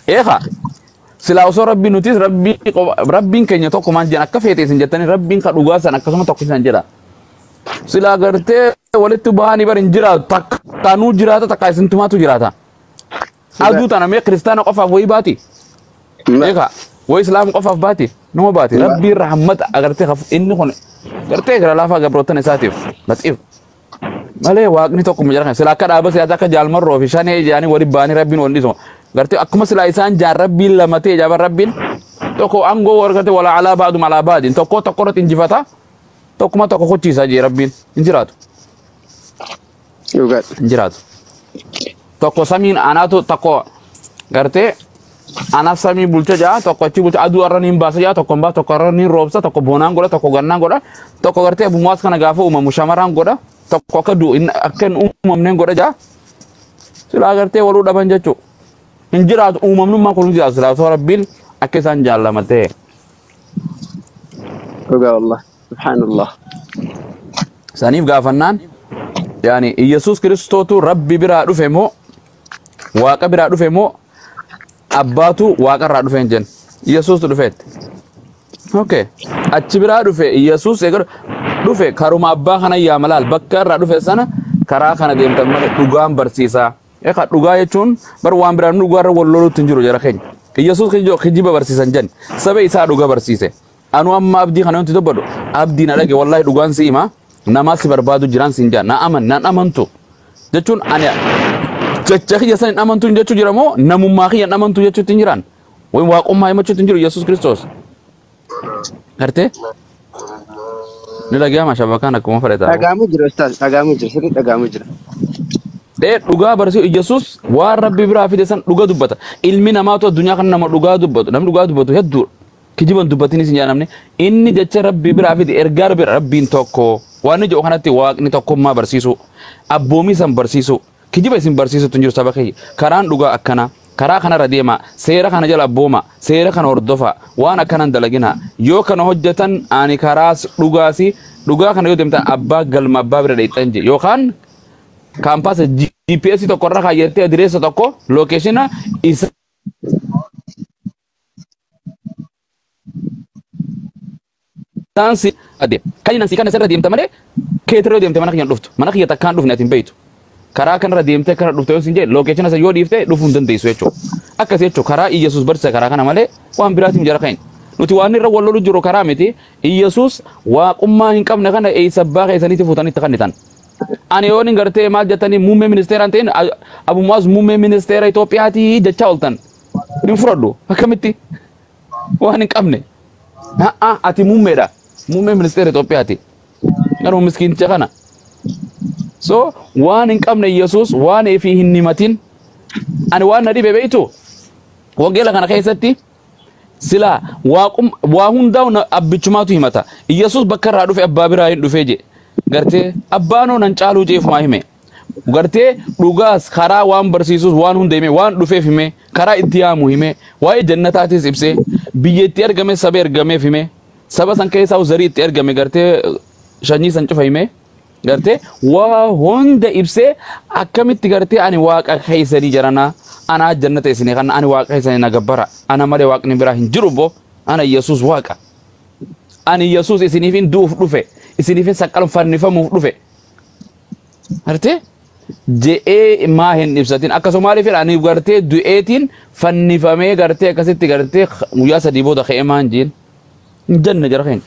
Eekaa silaa osoo rabbiin nutis rabbii qofa- rabbiin keenya tokko maan jedhan akka feetee isin jettanii rabbiin ka dhugaa san akkasuma tokko isin jedha. Silaa gartee walitti bahanii bar hin jiraatu takka nuu jiraata takka isin tumaatu jiraata. Dhugaa. Aduu tana mee kiristaana qofaaf wayii baati. Ma. Eekaa wayii islaam qofaaf baati. Numa baati. Ma. Rabbiin rahmata agartee kaf inni kun gartee gara laafaa gabroottan isaatiif laxiif. malee waaqni tokko mucaa kana sila akka dhaaba siyaasaa akka jaalmarroo fi shanee ijaanii wali baanii rabbiin wal dhiisuma gartee akkuma silaa isaan jaan rabbiin lama ta'e jaaban rabbiin tokko aangoo warqate wala alaa baadum alaa baadiin tokko tokko irratti injifata tokkuma tokko kochiisaa jee rabbiin hin jiraatu Dhugaadha. hin jiraatu tokko samiin anaatu tokko gartee Anaaf samii bulcha ja'a tokko achi bulcha aduu arra niin baasa ja'a tokko hin baasa tokko arra niin roobsa tokko boonaan godha tokko gannaan godha tokko gartee abbummaas kana gaafa uumamu shamaraan godha tokko akka du'u hin- akka hin uumamneen godha ja'a silaa gartee waluu dhaban jechuu hin jiraatu uumamnummaa kun hin jiraatu silaa osoo rabbiin akka isaan jaallama ta'e Dhugaa wallah. Subhaanallah. saniif gaafannaan yaani Iyyasuus Kiristootu rabbi biraa dhufe moo Waaqa biraa dhufe moo abbaatu waaqa irraa dhufe hin jennu. Yesuustu dhufeetti. Okay. Achi biraa dhufe Yesuus egaa dhufe karuma abbaa kana yaa malaal bakka irraa dhufe sana karaa kana deemtan malee dhugaan barsiisaa. Egaa dhugaa jechuun bar waan biraa dhugaa irra wal loluutti hin jiru jara keenya. Yesuus kijiba barsiisan jenna. Saba isaa dhugaa barsiise. Anu amma abdii kana yonti dubbadhu abdii na dhage wallahi dhugaan si hima namaa si barbaadu jiraan siin jaa na aman nan amantu jechuun ani jecha kiyya san hin amantu hin jechuu jira moo namummaa kiyya hin amantu jechuutti hin jiraan wayim waaqummaa himachuutti hin jiru Yesuus Kiristoos gartee ni dhagayama shabakaan akkuma fedhetaa hoo Dhagaamu jira ustaaz dhagaamu jira sirri dhagaamu jira. dhee dhugaa barsiisu Yesuus waan rabbi biraa fide san dhuga dubbata ilmi namaatu addunyaa kana nama dhugaa dubbatu namni dhugaa dubbatu hedduudha Kijiban dubbatinis hin jaanamne. Inni jecha Rabbii biraa fide ergaa Rabbii irraa Rabbiin tokko. Waan inni jedhu kanatti waaqni tokkummaa barsiisuu, abboomii san barsiisuu, kijiba isin barsiisutu hin jiru saba kiyya. Karaan dhugaa akkana, karaa kanarra deemaa, seera kana jala abboomaa, seera kana hordofaa, waan akkana hin dalaginaa. Yoo kana hojjatan ani karaas dhugaasi, dhugaa kana yoo deemtan abbaa galma abbaa bira dheexxan jedhe. Yookaan kaampaasa GPS tokko irra kaayyattee adireessa tokko lookeeshina isa Isaan si adeem. Kan inni si kana sirra deemta malee keetirra deemte mana kiyyan dhuftu. Mana kiyya takkaan dhufne ati hin beektu. Karaa kanarra deemtee kana dhufte yoo sin jee lookeeshina isa yoo dhiifte dhufuu hin dandeessu jechuudha. Akkasi jechuudha karaa Iyyasuus barsiisa karaa kana malee waan biraatiin jara kan nuti waan irra wal lolu jiru karaa miti Iyyasuus waaqummaa hin qabne kana eessa abbaa keessanitti fuutanii itti kennitan. Ani yoon hin gartee maal jettanii muummee ministeeraan ta'in Abu Mu'aaz muummee ministeera Itoophiyaati jechaa oltan. Hin fudhadhu. Akkamitti? Waan hin qabne. Ha'a ati muummeedha. Muummee ministeera Itoophiyaati. Garuu miskiinticha kana. So waan hin qabne Yesuus waan fi hin himatin. Ani waan na dhibe beektu wangeela kana keessatti silaa waaqum waa hundaa'u na- abbichumaatu himata. Yesuus bakka irraa dhufe abbaa biraa hin dhufee jee. Gartee abbaanoo nan caaluu jeefumaa hime. Gartee dhugaas karaa waan barsiisus waan hunda himee waan dhufeef himee karaa itti yaamu himee waa'ee jannataatis ibsee biyya itti ergame saba ergameef himee saba san keessaa zarii itti ergame gartee shanyii san cufa himee gartee waa hunda ibsee akkamitti gartee ani waaqa keessanii jaranaa anaa jannata isinii kana ani waaqa keessanii na gabbara ana malee waaqni biraa hin jiru boo ana yesus waaqa ani yesus isiniifin du'uuf dhufe isiniifin saqqalfannifamuuf dhufe Artee? Je'ee maa hin ibsatin akka Somaalii fedha ani gartee du'eetiin fannifamee gartee akkasitti gartee guyyaa sadii booda ka'ee maan jeen hin jenne jara keenya.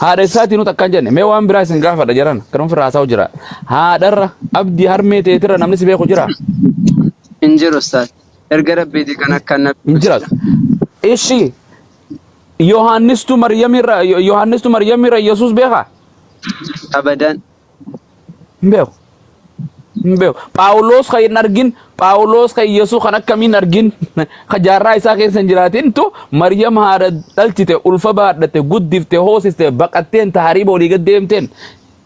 Haadha isaatii nuti akkaan jenne mee waan biraa isin gaafadha jaran kan ofirraa haasa'u jira. Haadharra abdii harmee teetirra namni si beeku jira Hin jiru ustaaz. Erga rabbiiti kan akka hin nabi jiraatu. Ishi Yohaannistu Maryamirra Yohaannistu Maryamirra Yesuus beekaa? abadan. hin beeku hin beeku phaawuloos kan hin argin phaawuloos kan yesus kan akkamiin hin argin kan jaarraa isaa keessa hin jiraatintu maryam haadha dhalchite ulfa baadhatte guddifte hoosiste baqatteen tahariiba olii gad deemteen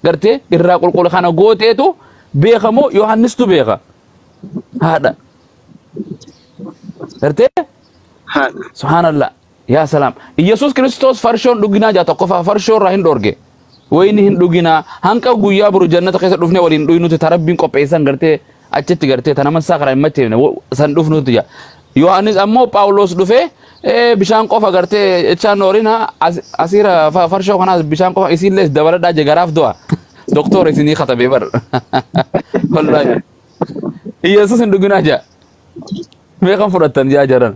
gartee irraa qulqulla kana gooteetu beekamoo yohannistu beeka haadha gartee haadha subhaanallah Yaa salaam. Iyyasuus Kiristoos farshoon dhuginaa jaa tokkoffaa farshoo irraa hin dhoorge. Wayni hin dhuginaa hanqa guyyaa boru jannata keessa dhufne waliin dhuynuti ta rabbiin qopheessan gartee achitti gartee ta naman isaa karaa hin macheefne wo- san dhufnuti jaa. Yohaannis ammoo Phaawulos dhufee "Ee, bishaan qofa gartee jechaa noorina as- asiira fa- farshoo kanaas bishaan qofa isiillee dabaladhaa jee garaaf du'a. Doktoor isinii katabee bar. Wallaahi. Iyyasuus hin dhuginaa jaa. Mee kan fudhattan jaa jaran.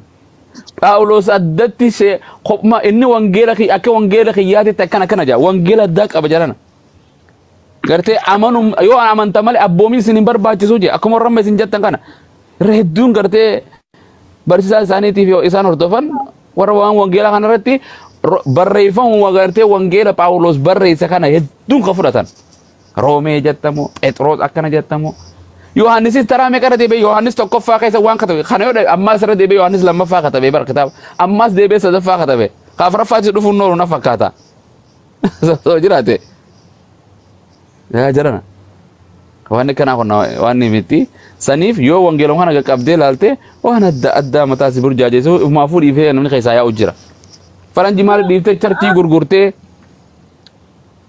Phaawulos addatti see kopma inni wangeela kiyya akka wangeela kiyyaatitti akkana akkana jaa wangeela addaa qaba jarana. Gartee amanum yoo amanta malee abboomin isin hin barbaachisu jee akkuma warra amma isin jettan kana irra hedduun gartee barsiisaa isaaniitiif yoo isaan hordofan warra waan wangeelaa kana irratti ro- barreeffamuma gartee wangeela Phaawulos barreesse kana hedduun kan fudhatan. Roomee jettamoo Phexros akkana jettamoo Yohaannisis taraa meeqa irra deebi'ee Yohaannis tokkoffaa keessa waan katabe kana yoo ammaas irra deebi'ee Yohaannis lammaffaa katabe bara kitaaba ammaas deebi'ee sadaffaa katabe ka afuraffaatti dhufuun nooru na fakkaata soo jiraate yaa jirana waan akkanaa kun waan miti saniif yoo wangeelon kana qaqqabdee laalte waan adda addaa mataa si burjaajeessu umaafuu dhiifee namni keessaa yaa'u jira faranji maal dhiiftee charchii gurgurtee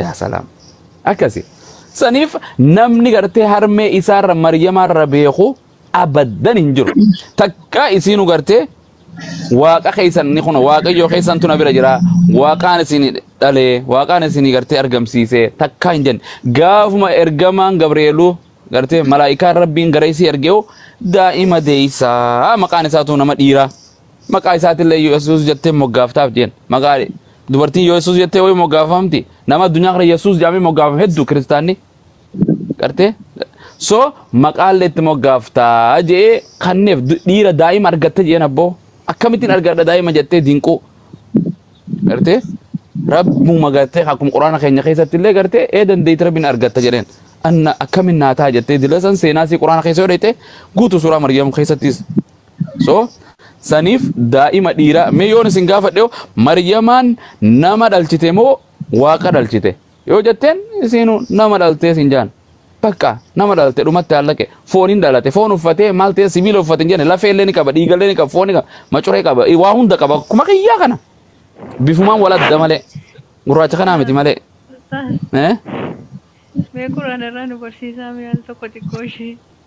yaa salaam akkasi saniif namni gartee harmee isaarra maryamaarra beeku abaddan hin jiru takkaa isiinu gartee waaqa keessan ni kun waaqayyoo keessan tuna bira jira waaqaan isin dhalee waaqaan isin gartee argamsiise takkaa hin jenne gaafuma ergamaan gabreeluu gartee malaa'ikaan rabbiin gara isii ergeewu daa'ima deeysaa maqaan isaatu nama dhiiraa Maqaa isaatillee Yesuus jettee moggaaftaaf jeen. Maqaa dubartiin Yesuus jettee wayii moggaafamti. Nama addunyaa kana Yesuus jedhamee moggaafame hedduu kiristaanni. Gartee? So maqaallee itti moggaaftaa jee kanneef du- dhiira daa'ima argatte jeen abboo. Akkamittiin argadha daa'ima jettee dinquu. Gartee? Rabbuma gartee akkuma quraana keenya keessatti illee gartee ee dandeetti rabbiin argatta jedheen. Anna akkamin naa ta'a jettee dila san seenaa isii quraana keessa yoo dheeyte guutuu suuraa Maryam keessattis so saniif daa'ima dhiiraa mee yoon isin gaafadhe hoo maryamaan nama dhalchite moo waaqa dhalchite yoo jetteen isiinu nama dhaltee sin jaan bakka nama dhalte dhumatti hallaqe fooniin dhalate foon uffatee maal ta'e sibiila uffate hin jenne lafee illee ni qaba dhiiga illee ni qaba foon ni qaba macuree qaba eh, waa hunda qaba akkuma kiyyaa kana bifumaan wal adda malee gurraacha kanaa miti malee Ustaaz, eh? mee Qur'aana irraa nu barsiisaa mee al tokko xiqqoo ishee.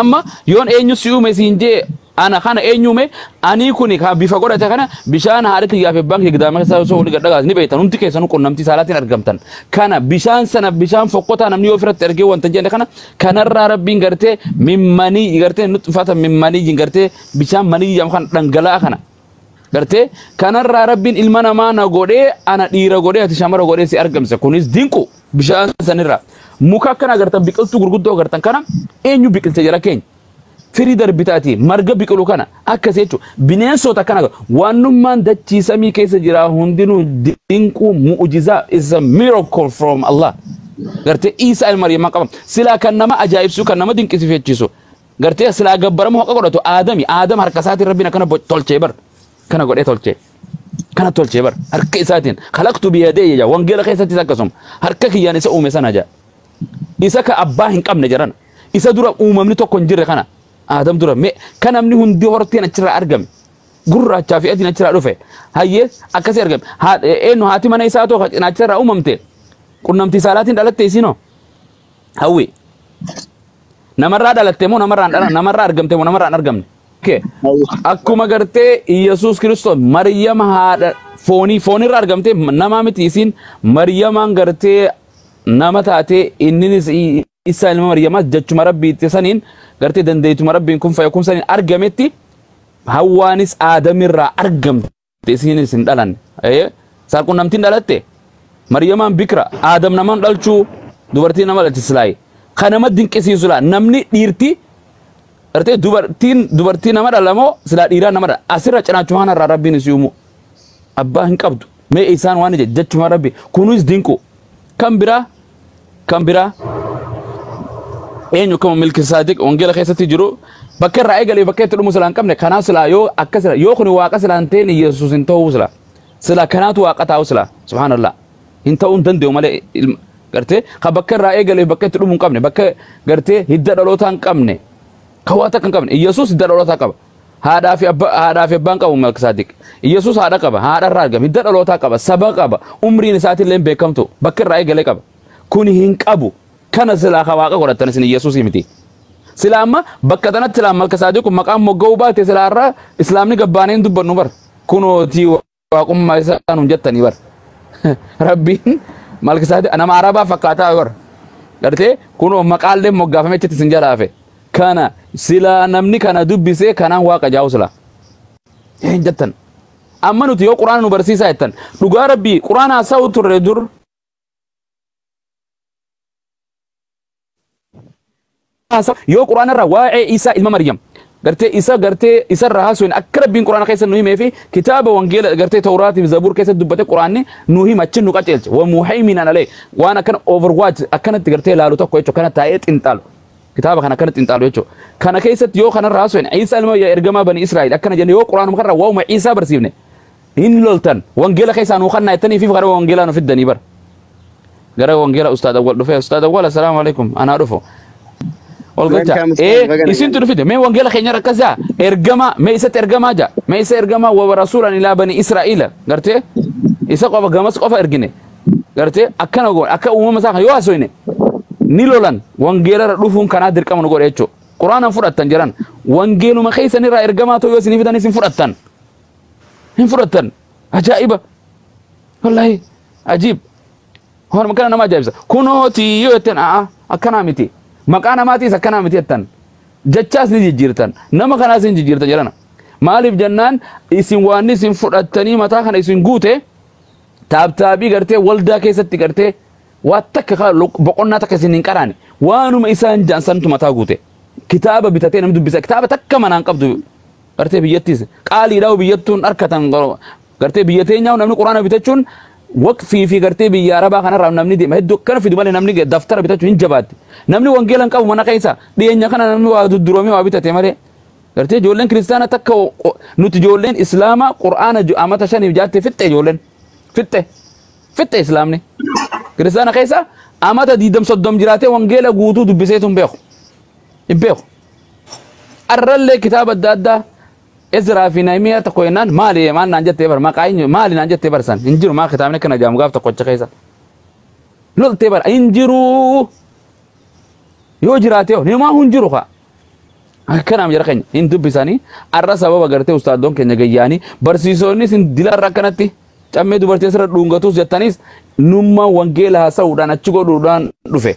Amma yoon eenyu si uume siin jee ana kana eenyu uume anii kuni ka bifa godhate kana bishaan haadha tiyyaa fi abbaan kiyya gidaama keessaa osoo walii gadhagaas ni beektan hundi keessanuu qunnamtii saalaatiin argamtan kana bishaan sana bishaan fokkotaa namni yoo ofirratti argee wanta jenne kana kanarraa rabbiin gartee mimmanii gartee nutfata mimmanii gartee bishaan manii jedhamu kan dhangala'aa kana Gartee kanarraa rabbiin ilma namaa na godhee ana dhiira godhee ati shamara godhee si argamse kunis dinqu bishaan sanirraa muka akkana agartan biqiltuu gurguddoo agartan kana eenyu biqilte jala keenya firii darbitaati marga biqilu kana akkas jechuun bineensota akkana waanummaan dachii samii keessa jiraa hundinuu dinquu mu'ujizaa is a miracle from Allah gartee Iisaa ilma Maryam qaba silaa kan nama ajaa'ibsu kan nama dinqisiifachiisu Gartee silaa gabbaramu haqa godhatu aadami aadam harka isaatiin rabbiin akkana bo- tolchee bar kana godhee tolchee kana tolchee bar harka isaatiin kalaqtu biyadee jedha wangeela keessattis akkasuma harka kiyyaan isa uume sana jedha isa ka abbaa hin qabne jedhan isa dura uumamni tokko hin jirre kana aadam dura mee kan namni hundi horteen achirraa argame gurraachaa fi adiin achirraa dhufe hayyee akkasii argame Haa- eenyu haati mana isaa tokko cinaacharraa uumamte qunnamtii saalaatiin dhalatte isiinoo Hawwi. Namarraa dhalatte moo namarraa hin dhalan- namarraa argamte moo namarraa hin argamne? Okay. Akkuma gartee Iyyasuus Kiristoos Maryama haadha foonii foonirra argamte nama miti isiin Maryamaan gartee nama taate inninis i- isa ilma Maryamaa jechuma rabbii itti saniin gartee dandeetuma rabbiin kun fayyakun saniin argametti hawwaanis aadamirraa argamte. Isiinis hin dhalanne. Ee, Saalqunnamtiin dhalatte. Maryamaan bikira. Aadam naman dhalchuu dubartii nama dhalche silaayi. Kan nama dinqisiisu laa namni dhiirti artee dubartiin dubartii nama dhalamoo silaa dhiiraa nama dhala. Asirra cinaachuma kanarraa rabbiin isii uumuu. Abbaa hin qabdu. Mee isaan waan ija jechuma rabbi kunis dinqu. Kan biraa kan biraa eenyu akkuma milki saadiq wangeela keessatti jiru bakka irraa eegalee bakka itti dhumu silaa hin qabne kanaa silaa yoo akka silaa yoo kun waaqa silaa hin ta'in yesus hin ta'uu silaa silaa kanaatu waaqa ta'uu silaa subhaanallah hin ta'uu hin danda'u malee ilma gartee ka bakka irraa eegalee bakka itti dhumu hin qabne bakka gartee hidda dhalootaa hin qabne ka waa takka hin qabne yesus hidda dhalootaa qaba Haadhaa fi abba- haadhaa fi abbaan qabu Malkisaadiq. Yesuus haadha qaba, haadha irraa argame, hidda dhalootaa qaba, saba qaba, umriin isaatiin illee hin beekamtu, bakka irraa eegalee qaba. Kun hin qabu. Kana silaa ka waaqa godhattan isin Yesuusii miti. Silaa amma bakka tanatti silaa Malkisaadiq kun maqaan mogga'uu baate silaa irraa Islaamni gabbaanee hin dubbannu bar. Kunootii waaqummaa isaa nuun jettanii bar rabbiin malki isaa nama arabaa fakkaataa bar gartee kunoo maqaallee moggaafame achitti isin jala hafe kana silaa namni kana dubbisee kanaan waaqa jaa'u silaa hin jettan amma nuti yoo quraana nu barsiisaa jettan dhugaa rabbii quraana haasa'u turre dur haasa yoo quraana irraa waa'ee isaa ilma maryam gartee isa gartee isa irraa haasuun akka rabbiin quraana keessa nu himee fi kitaaba wangeela gartee tawraatiif zabuur keessa dubbate quraanni nu hima achi nu qaceelche wa muhayminan alee waan akkana overwatch akkanatti gartee laalu tokko jechuudha kana taa'ee xinxaalu kitaaba kana akkana xinxaalu jechuudha kana keessatti yoo kana irraa haasuun isa ilma ergamaa bani israa'el akkana jenne yoo quraanuma kanarraa waa'uma isaa barsiifne hin loltan wangeela keessaa nuu kannaa jettanii fi gara wangeelaa nu fiddanii bara gara wangeela ustaad awwal dhufee ustaad awwal assalaamu alaikum anaa dhufu ol galcha Welcome, ustaad, ee baga isintu nagaan. nu fide mee wangeela keenya rakkas jaa ergamaa mee isatti ergamaa jaa mee isa ergamaa wa rasuulan ilaa bani israa'iila gartee isa qofa gamas qofa ergine gartee akkana goone akka uumama isaa kan yoo hasoyne ni lolan wangeelarra dhufuun kanaa dirqama nu godhe jechuudha quraanaan fudhattan jedhan wangeeluma keessanirraa ergamaa ta'uu yoo isinii fidan isin fudhattan hin fudhattan ajaa'iba wallahi ajiib waan kana nama ajaa'ibsa kunooti yoo jettan a'a akkanaa miti maqaa namaatiis akkanaa miti jettan jechaas ni jijjiirtan nama kanaas ni jijjiirtan jedhana maaliif jennaan isin waan isin fudhattanii mataa kana isin guute taabtaabii gartee waldaa keessatti gartee waa takka kaa lo- boqonnaa takka isin hin qaraane waanuma isaan jaan santu mataa guute kitaaba bitatee namni dubbisa kitaaba takka manaan qabdu Gartee biyyattis qaaliidha biyyattuun harkatan gartee biyya teenyaa namni quraana bitachuun waqfii fi gartee biyya arabaa kanarraa namni deema hedduu akkana fidu malee namni daftara bitachuun hin jabaatti. Namni wangeela hin qabu mana keessa dhiyeenya kana namni waa dudduroomee waa bitate malee gartee ijoolleen kiristaana takka nuti ijoolleen islaamaa quraana amata shaniif jaatte fixxe ijoolleen fixxe fixxe islaamni kiristaana keessa amata diidam soddom jiraatee wangeela guutuu dubbisee sun beeku hin beeku. Arrallee kitaaba adda addaa Ezraa fi Nahimiyaa tokko jennaan maali maal naan jettee bar maqaa eenyu maali naan jettee barsan hin jiru maa kitaabni akkana jaamu gaaf tokkocha keessa loltee bar hin jiru yoo jiraatee hoo nimaa hin jiru kaa akkanaam jara keenya hin dubbisanii arra sababa gartee ustaadoon keenya gayyaanii barsiisonnis hin dilarra akkanatti cammee dubartii asirra dhuungatus jettanis nummaan wangeela haasa'uudhaan achi godhuudhaan dhufe.